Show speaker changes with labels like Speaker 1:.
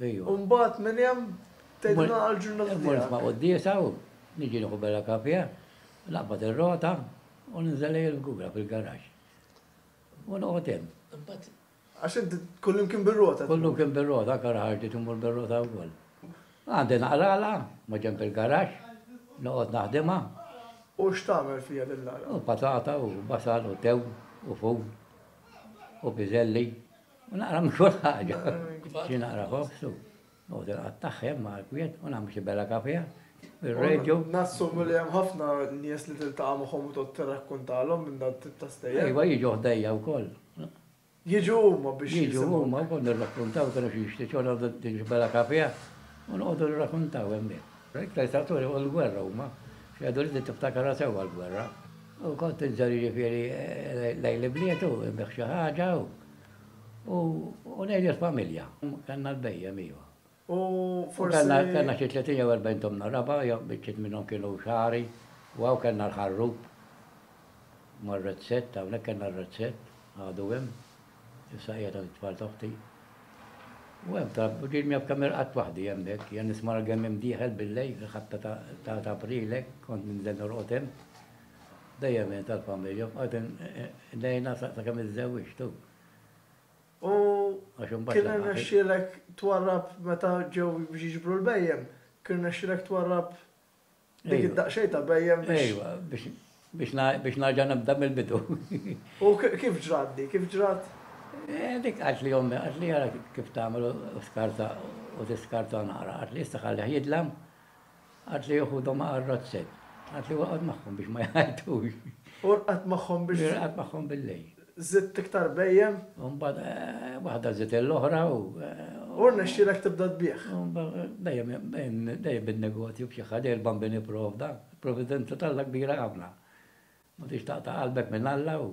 Speaker 1: U mbagħad minn hemm tedna għal ġurnata tiegħek. Ma' qoddisa u niġi nieħu bella kafja, naqbad ir-rota u ninżel lejn il-gura fil-garax. U noqgħod hemm. Għax inti kullim kien bir-rota. Kullim kien bir-rota, kara ħarġi timur bir-rota wkoll. Għandi naqrala, ma ġemp il-garax, noqgħod naħdimha. U x'tagħmel fija din l-għala? U patata u basal u tew u fum. u biżelli, u naqra minn kull ħaġa. Xi naqra ħobż u noqgħod il-qatt taħħem ma' l-kwiet u nagħmel xi bella kafija. Ir-reġu. Nassumu li hemm ħafna nies li tiltaqa' magħhom u tgħod tirrakkuntalhom minn dan tip ta' stejjer. Iva jiġu ħdejja wkoll. Jiġu huma biex jiġu huma wkoll nirrakkuntaw kienu xi jixtiequ nagħmlu din xi bella kafija u noqogħdu nirrakkuntaw hemmhekk. L-iktar tratturi u l-gwerra huma. Xi jgħidu li din tiftakarha sewwa l-gwerra. U kont inżor jiġifieri lejn l-ibliet u nbigħ xi ħaġa u u ngħid lill-familja. Kellna l-bhejjem iva. U forsi. U kellna xi tletin jew erbgħin tomna raba' jew biċċiet minnhom kienu xagħri u hawn kellna l-ħarrub mar-rezzett hawnhekk kellna r-rezzett għadu hemm. Issa qiegħda lit-tfal ta' uħti. U hemm ta' din jaf kemm irqadt waħdi hemm hekk, jien nisma' l-gemmiem dieħel bil-lejl fil-ħabta ta' ta' April hekk, kont ninżel norqod hemm. Dejjem jien tal-familja, bqajt ngħinha sakemm iżżewwiġt hu. U kien irnexxielek twarrab meta ġew biex jiġbru l-bhejjem, kien irnexxielek twarrab Dik id-daqsxejn ta' bhejjem biex. Ejwa, biex naġa nibda mill-bidu. U kif ġrat di, kif ġrat? Dik għalt li ommi, għalt li għara kif tagħmel u skarta u tiskarta nara, għalt li issa ħalliħ jidlam, għalt li juħudhom għal rozzet, għalt li waqgħod magħhom biex ma jgħajtux. U rqad magħhom biex. Rqad magħhom bil-lejl. Żidt iktar bhejjem. U mbagħad waħda żidt lill-oħra u. U rnexxielek tibda tbigħ. Dejjem dejjem bin-negozju b'xi ħaġa, il-Bambini pprovda. Providenza t'Alla kbira ħafna. Ma tridx taqta' qalbek minn Alla u.